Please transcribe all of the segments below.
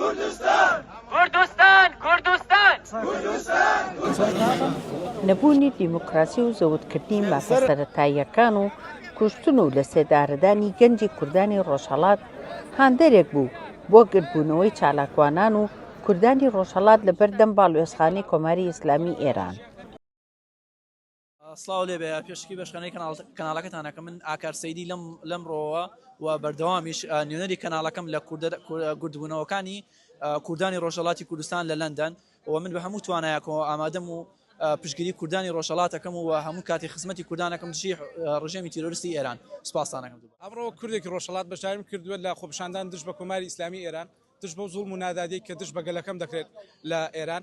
کوردستان! کوردستان! کوردستان! کوردستان! کوردستان! نەبوونی دیموکراسی و زەوتکردنی مافە سەرەتاییەکان و کوشتن و لەسێدارەدانی گەنجی کوردانی ڕۆژهەڵات هاندەرێک بوو بۆ گردبوونەوەی چالاکوانان و کوردانی ڕۆژهەڵات لەبەردەم باڵوێزخانەی کۆماری ئیسلامی ئێران. سڵاو لێ بێ پێشکی بەشکەنەی کەناڵەکەتانەکە من ئاکار سەیدی لەم لەم ڕۆوە و بەردەوامیش نوێنەری کەناڵەکەم لە گردبوونەوەکانی کوردانی ڕۆژەڵاتی کوردستان لە لەندەن و من بە هەموو توانایەکەوە ئامادەم و پشگیری کوردانی ڕۆژەڵاتەکەم و هەموو کاتی خزمەتی کوردانەکەم دژی ڕژێمی تیرۆرستی ئێران سپاسانەکەم ئەمڕۆ کوردێکی ڕۆژەڵات بەشداریم کردووە لە خۆپشاندان دژ بە کۆماری ئیسلامی ئێران دژ بۆ زوڵ و نادادی کە دژ بە گەلەکەم دەکرێت لە ئێران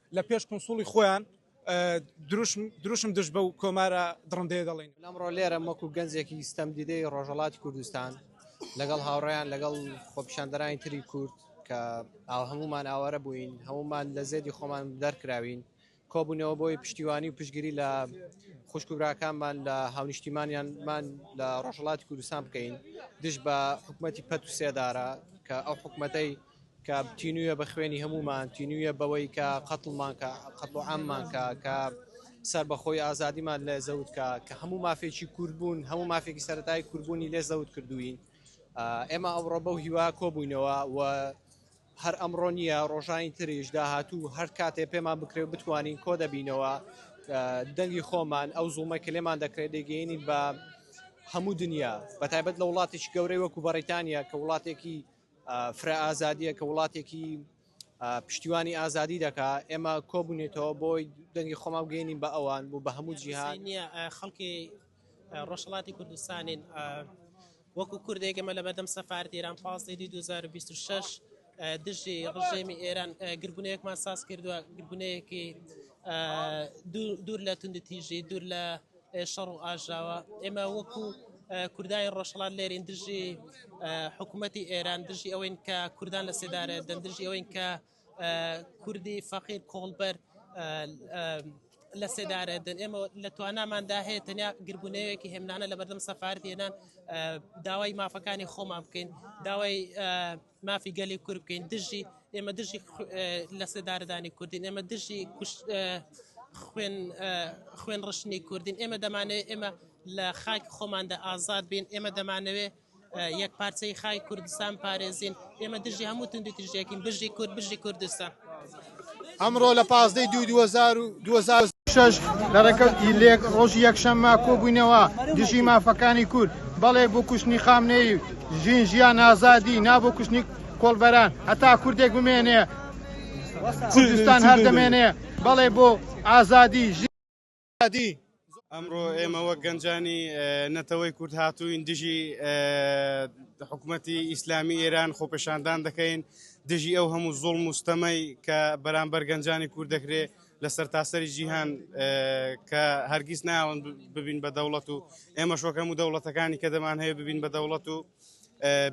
لە پێش کونسوڵی خۆیان دروشم دروشم دژ بەو کۆمارە دڕندەیە دەڵێن. ئەمڕۆ لێرەم وەکوو گەنجێکی ستەمدیدەی ڕۆژهەڵاتی کوردستان لەگەڵ هاوڕێیان لەگەڵ خۆپیشاندەرانی تری کورد کە ئاو هەموومان ئاوارە بووین هەموومان لە زێدی خۆمان دەرکراوین کۆبوونەوە بۆی پشتیوانی و پشگیری لە خوشک و براکانمان لە هاونیشتیمانیانمان لە ڕۆژهەڵاتی کوردستان بکەین دژ بە حکوومەتی پەت و سێدارە کە ئەو حکوومەتەی کە تینویە بە خوێنی هەموومان تینویە بەوەی کە قەتڵمان کە قەتڵ و عاممان کە کە سربەخۆی ئازادیمان لە زەوت کە کە هەموو مافێکی کوردبوون هەموو مافێکی سەتای کوردبوونی لێ زەوت کردوین ئێمە ئەوڕۆ بەو هیوا کۆبووینەوە و هەر ئەمڕۆ نییە ڕۆژانی تریش داهاتوو هەر کاتێ پێمان بکرێ بتوانین کۆ دەبینەوە دەنگی خۆمان ئەو زوڵمە کە لێمان دەکرێت دەگەینین بە هەموو دنیا بە تایبەت لە وڵاتیش گەورەی وەکو بەڕیتانیا کە وڵاتێکی فرە ئازادیە کە وڵاتێکی پشتیوانی ئازادی دەکا ئێمە کۆبوونێتەوە بۆی دەنگی خۆما بگەینین بە ئەوان بوو بە هەموو جیهان نیە خەڵکی ڕۆژهڵاتی کوردستانین وەکو کوردێک ئەمە لە بەردەم سەفارت ئێران پازدەی 2026 دژی ڕژێمی ئێران گربونەیەکمان ساز کردووە گربونەیەکی دوور لە توندتیژی دوور لە شەڕ و ئاژاوە ئێمە وەکو کوردانی ڕۆژهڵات لێرین دژی حکوومەتی ئێران دژی ئەوەین کە کوردان لە سێدارە دەن دژی ئەوەین کە کوردی فەقیر کۆڵبەر لە سێدارە دەن ئێمە لە تواناماندا هەیە تەنیا گربوونەیەکی هێمنانە لە بەردەم سەفارت هێنان داوای مافەکانی خۆمان بکەین داوای مافی گەلی کورد بکەین دژی ئێمە دژی لە سێدارەدانی کوردین ئێمە دژی خوێن خوێن ڕشتنی کوردین ئێمە دەمانەوێت ئێمە لە خاک خۆماندا ئازاد بین ئێمە دەمانەوێت یەک پارچەی خای کوردستان پارێزین ئێمە دژی هەموو تندی تژێکین بژی کورد بژی کوردستان. ئەمڕۆ لە پازدەی دوو دوو هەزار و دوو هەزار و شەش لە ڕێکەوت ئیلێک ڕۆژی یەکشەممە کۆبووینەوە دژی مافەکانی کورد بەڵێ بۆ کوشتنی خامنەیی و ژین ژیان ئازادی نا بۆ کوشتنی کۆڵبەران هەتا کوردێک بمێنێ کوردستان هەر دەمێنێ بەڵێ بۆ ئازادی ژین ئازادی. ئەمڕۆ ئێمە وەک گەنجانی نەتەوەی کورد هاتووین دژی حکوومەتی ئیسلامی ئێران خۆپێشاندان دەکەین دژی ئەو هەموو زۆڵ مستەمەی کە بەرامبەر گەنجانی کورد دەکرێت لەسەر تاسەری جیهان کە هەرگیز ناون ببین بە دەوڵەت و ئێمە شۆکەم و دەوڵەتەکانی کە دەمان هەیە ببین بە دەوڵەت و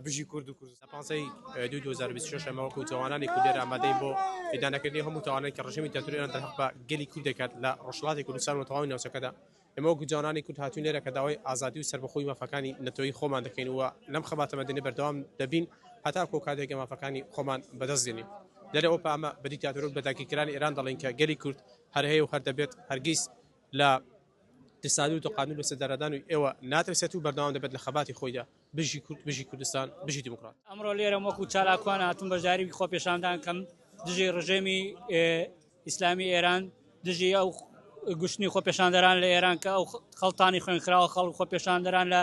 بژی کورد و کوردستان. لە پانزەی دووی دوو هەزار و بیست و شەش ئێمە وەکوو تاوانانی کوردێر ئامادەین بۆ ئیدانەکردنی هەموو تاوانێک کە ڕژێمی دیکتاتۆری ئێران دەرهەق بە گەلی کورد دەکات لە ڕۆژهەڵاتی کوردستان و تەواوی ناوچەکەدا. ئێمە وەکوو جوانانی کورد هاتووین لێرە کە داوای ئازادی و سەربەخۆی مافەکانی نەتەوەیی خۆمان دەکەین و لەم خەباتە مەدەنیە بەردەوام دەبین هەتاکوو ئەو کاتەی کە مافەکانی خۆمان بەدەست دێنین. لێرە ئەوپە ئەمە بە دیکتاتۆر و بە داگیرکەرانی ئێران دەڵێین کە گەلی کورد هەر هەیە و هەر دەبێت هەرگیز لە ئێستادو تاقانون بە سەردارادانوی ئێوە ناترسێت و بەردەوام دەبێت لە خەباتی خۆیدا. بژی کورد بژی کوردستان بژی دیموکرات. ئەمڕۆ لێرەم وەکو چالاکوان هاتوم بەشداری خۆپێشاندان کەم دژی ڕژێمی ئیسلامی ئێران دژی ئەو گوشتنی خۆپێشاندەران لە ئێران کە ئەو خەڵتانی خوێنخراوە خەڵک خۆپێشاندەران لە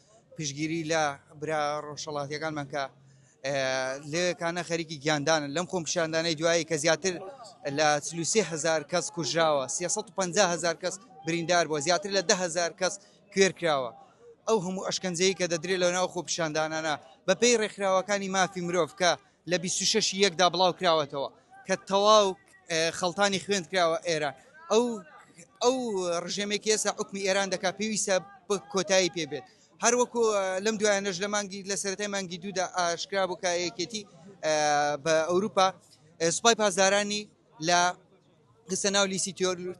پشتگیری لە برا ڕۆژهەڵاتیەکانمان کە لەوێکانە خەریکی گیاندانن لەم خۆمپیشاندانەی دوایی کە زیاتر لە چلوسێ هزار کەس کوژراوە 350 هزار کەس بریندار بووە زیاتر لە ده هزار کەس کوێر کراوە ئەو هەموو ئەشکەنجەیە کە دەدرێت لە ناو خۆپیشاندانانە بەپێی ڕێکخراوەکانی مافی مرۆڤ کە لە بیست و شەش ی یەک دا بڵاو کراوەتەوە کە تەواو خەڵتانی خوێند کراوە ئێران ئەو ئەو ڕژێمێکی ئێستا حکومی ئێران دەکات پێویستە کۆتایی پێ بێت هەر وەکو لەم دوایانەش لە مانگی لە سەرەتای مانگی دوودا ئاشکرا بوو کایەکێتی بە ئەوروپا سوپای پاسدارانی لە خستە ناو لیستی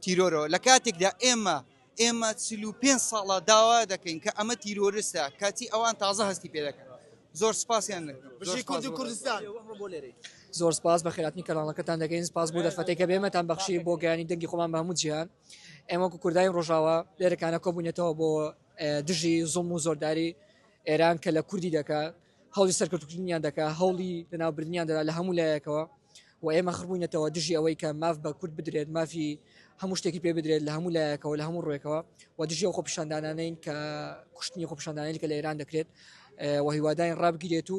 تیرۆرەوە لە کاتێکدا ئێمە ئێمە چل و پێنج ساڵە داوا دەکەین کە ئەمە تیرۆرستە کەچی ئەوان تازە هەستی پێ دەکەن زۆر سپاسیان دەکەم. زۆر بژی سپاس کورد و بۆ- کوردستان زۆر سپاس بە خێراتنی کەناڵەکەتان دەگەین سپاس بۆ دەرفەتێک کە بێمەتان بەخشی بۆ گەیانی دەنگی خۆمان بە هەموو جیهان ئێمە وەکو کوردای ڕۆژاوا لێرەکانە کۆبوونەتەوە بۆ اه، دژی زوڵم و زۆرداری ئێران کە لە کوردی دەکات هەوڵی سەرکەوتوکردنیان دەکا هەوڵی لەناوبردنیان دەدا لە هەموو لایەکەوە و ئێمە خڕبووینەتەوە دژی ئەوەی کە ماف بە کورد بدرێت مافی هەموو شتێکی پێ بدرێت لە هەموو لایەکەوە لە هەموو ڕێکەوە و دژی و خۆپیشاندانانین کە کوشتنی خۆپیشاندانانی کە لە ئێران دەکرێت و هیواداین ڕابگیرێت و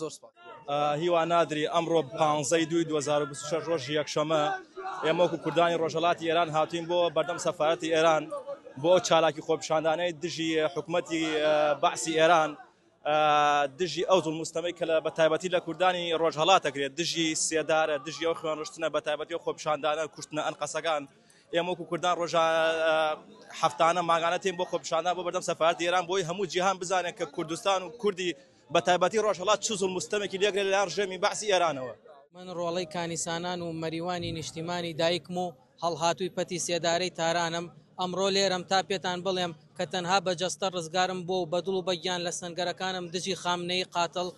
زۆر سپاس. هیوا نادری، ئەمڕۆ پانزەی دووی دوو هەزار و بیست و شەش ڕۆژی یەکشەممە، ئێمە وەکوو کوردانی ڕۆژهەڵاتی ئێران هاتووین بۆ بەردەم سەفارەتی ئێران بۆ ئەو چالاکی خۆپیشاندانەی دژی حکوومەتی بەعسی ئێران، دژی ئەو زوڵم و ستەمەی کە لە بەتایبەتی لە کوردانی ڕۆژهەڵات دەکرێت، دژی سێدارە، دژی ئەو خوێنڕشتنە بەتایبەتی ئەو خۆپیشاندانە، کوشتنە ئەنقەستەکان، ئێمە وەکوو کوردان ڕۆژا هەفتانە، مانگانە تێین بۆ خۆپیشاندان بۆ بەردەم سەفارەتی ئێران بۆی هەموو جیهان بزانێت کە کوردستان و کوردی بە تایبەتی ڕۆژهەڵات چ زوڵم و ستەمێکی لێکرێت لەلایەن ڕژێمی بەعسی ئێرانەوە. من ڕۆڵەی کانیسانان و مەریوانی نیشتیمانی دایکم و هەڵهاتووی پەتی سێدارەی تارانم، ئەمڕۆ لێرەم تا پێتان بڵێم کە تەنها بە جەستە ڕزگارم بووە و بە دڵ و بە گیان لە سەنگەرەکانم دژی خامنەیی قاتڵ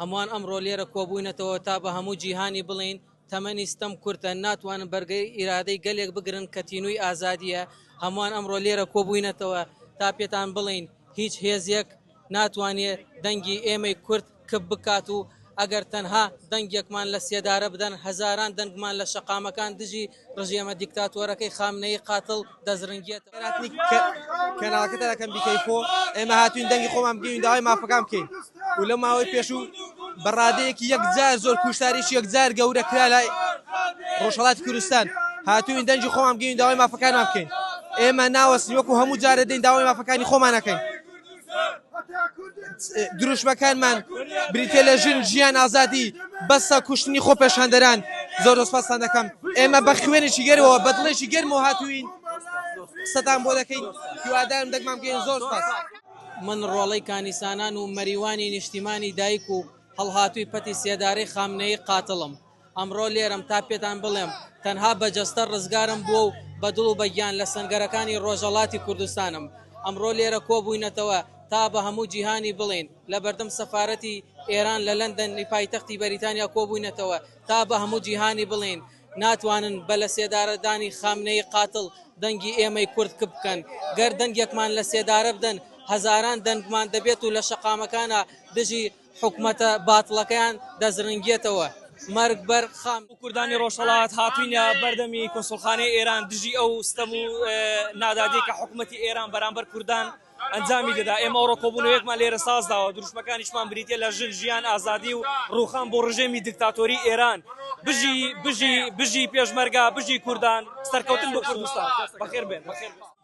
هەمووان ئەمڕۆ لێرە کۆبووینەتەوە تا بە هەموو جیهانی بڵێین تەمەنی ستەم کورتە ناتوانن بەرگەی ئیرادەی گەلێک بگرن کە تینووی ئازادییە هەمووان ئەمڕۆ لێرە کۆبووینەتەوە تا پێتان بڵێین هیچ هێزێک ناتوانێ دەنگی ئێمەی کورد کپ بکات و ئەگەر تەنها دەنگێکمان لە سێدارە بدەن هەزاران دەنگمان لە شەقامەکان دژی ڕژێمە دیکتاتۆرەکەی خامنەیی قاتڵ دەزرنگێتەوە. ئێمە هاتووین دەنگی خۆمان بگەین و داوای مافەکان بکەین و لەو ماوەی پێشوو بە ڕادەیەکی یەکجار زۆر کوشتاریش یەکجار گەورە کرا لە ڕۆژهەڵاتی کوردستان هاتووین دەنگی خۆمان بگەین و داوای مافەکانمان بکەین. ئێمە ناوەستین وەکوو هەموو جارێ دێین داوای مافەکانی خۆمان ئەکەین. دروشمەکانمان بریتە لە ژن ژیان ئازادی بەسە کوشتنی خۆ پێشاندەران زۆر دەسپاسان دەکەم ئێمە بە خوێنێکی گەرەوە بەدڵێکی گەرم و هاتوین قسەتان بۆ دەکەین هیوادارم دەگمام گەین زۆر سپاس من ڕۆڵەی کانیسانان و مەریوانی نیشتیمانی دایک و هەڵهاتووی پەتی سێدارەی خامنەی قاتڵم ئەمڕۆ لێرەم تا پێتان بڵێم تەنها بە جەستە ڕزگارم بووە و بە دڵ و بە گیان لە سەنگەرەکانی ڕۆژەڵاتی کوردستانم. ئەمڕۆ لێرە کۆبووینەتەوە تا بە هەموو جیهانی بڵێین، لە بەردەم سەفارەتی ئێران لە لەندەن ی پایتەختی بەریتانیا کۆبووینەتەوە تا بە هەموو جیهانی بڵێین، ناتوانن بە لە سێدارە دانی خامنەیی قاتڵ دەنگی ئێمەی کورد کپ بکەن. گەر دەنگێکمان لە سێدارە بدەن هەزاران دەنگمان دەبێت و لە شەقامەکانا دژی حکومەتە باتڵەکەیان دەزرنگیەتەوە مەرگ بەر خام. کوردانی ڕۆژهەڵات هاتوینە بەردەمی کونسوڵخانەی ئێران دژی ئەو ستەم و نادادی کە حکومەتی ئێران بەرامبەر کوردان ئەنجامی دەدا ئێمە ئەوڕۆ کۆبونەوەیەکمان لێرە سازداوە دروشمەکانیشمان بریتە لە ژن ژیان ئازادی و ڕوخان بۆ ڕژێمی دکتاتۆری ئێران بژی بژی بژی پێشمەرگا بژی کوردان سەرکەوتن بۆ کوردستان بەخێر بێن.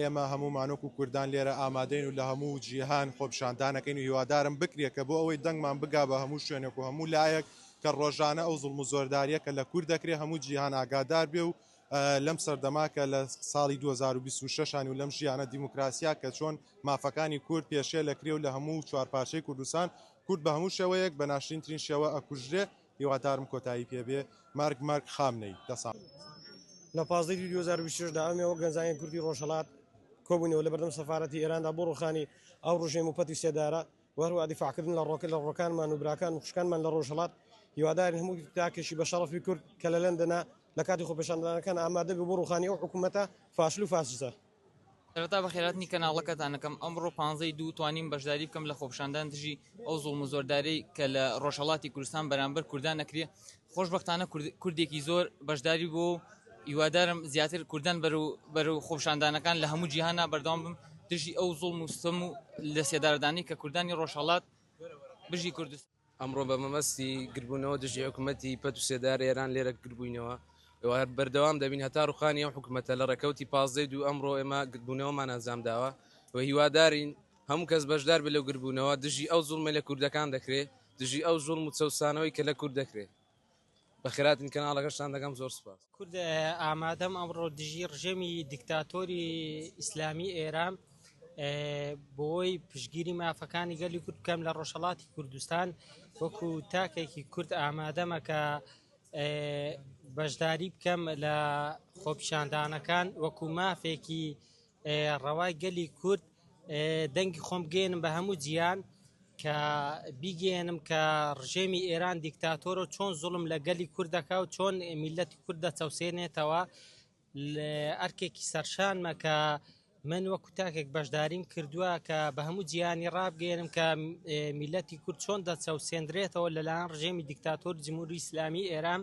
ئێمە هەموومان وەکو کوردان لێرە ئامادەین و لە هەموو جیهان خۆپیشاندانەکەین و هیوادارم بکرێت کە بۆ ئەوەی دەنگمان بگا بە هەموو شوێنێک و هەموو لایەک کە ڕۆژانە ئەو زوڵم و زۆرداریە کە لە کورد دەکرێت هەموو جیهان ئاگادار بێ و لەم سەردەما کە لە ساڵی 2026 و لەم ژیانە دیموکراسیا کە چۆن مافەکانی کورد پێشێ لە کرێ و لە هەموو چوارپارچەی کوردستان کورد بە هەموو شێوەیەک بە ناشرینترین شێوە ئەکوژرێ هیوادارم کۆتایی پێ بێ مارگ مارگ خامنەی دە ساڵ. لە پازدە ی دوو هەزار و بیست و شەش دا ئەمێ وەک گەنجانی کوردی ڕۆژهەڵات کۆبووینەوە لە بەردەم سەفارەتی ئێراندا بۆ ڕووخانی ئەو ڕژێم و پەت و سێدارە و هەروەها دیفاعکردن لە ڕۆکە لە ڕۆکانمان و براکان و خوشکانمان لە ڕۆژهەڵات هیوادارین هەموو تاکێکی بە شەڕەفی کورد کە لە لەندەنە لە کاتی خۆپێشاندانەکان ئامادە بێ بۆ ڕووخانی ئەو حکوومەتە فاشل و فاسیسە سەرەتا بەخێرهاتنی کەناڵەکەتان ئەکەم، ئەمڕۆ پانزەی دوو توانیم بەشداری بکەم لە خۆپیشاندان دژی ئەو زوڵم و زۆردارەی کە لە ڕۆژهەڵاتی کوردستان بەرامبەر کوردان ئەکرێ، خۆشبەختانە کوردێکی زۆر بەشداری بووە و هیوادارم زیاتر کوردان بەرەو خۆپیشاندانەکان لە هەموو جیهانا بەردەوام بن دژی ئەو زوڵم و ستەم و لەسێدارەدانەی کە کوردانی ڕۆژهەڵات بژی کوردستان. ئەمڕۆ بە مەبەستی گردبوونەوە دژی حکوومەتی پەت و سێدار ئێران لێرە گردبووینەوە بەردەوام دەبین هەتا ڕوخانی ئەو حکوومەتە لە ڕێکەوتی پازدەی دوو ئەمڕۆ ئێمە گردبوونەوەمان ئەنجام داوە و هیوادارین هەموو کەس بەشدار بێ لەو گردبوونەوە دژی ئەو زوڵمە لە کوردەکان دەکرێت دژی ئەو زوڵم و چەوسانەوەی کە لە کورد دەکرێت بەخێراتن کەناڵەکەشتان دەکەم زۆر سوپاس. کورد ئامادەم ئەمڕۆ دژی ڕژێمی دیکتاتۆری ئیسلامی ئێران بۆی پشگیری مافەکانی گەلی کورد بکەم لە ڕۆژهڵاتی کوردستان وەکو تاکێکی کورد ئامادەمە کە بەشداری بکەم لە خۆپیشاندانەکان وەکو مافێکی ڕەوای گەلی کورد دەنگی خۆم بگەیەنم بە هەموو جیان کە بیگەیەنم کە ڕژێمی ئێران دیکتاتۆر و چۆن زوڵم لە گەلی کورد دەکا و چۆن میلەتی کورد دەچەوسێنێتەوە ئەرکێکی سەرشانمە کە من وەکو تاکێک بەشداریم کردووە کە بە هەموو جیانی ڕابگەێنم کە میلەتی کورد چۆن دەچەوسێندرێتەوە لەلاەن ڕژێمی دیکتاتۆر جمهوری ئیسلامی ئێران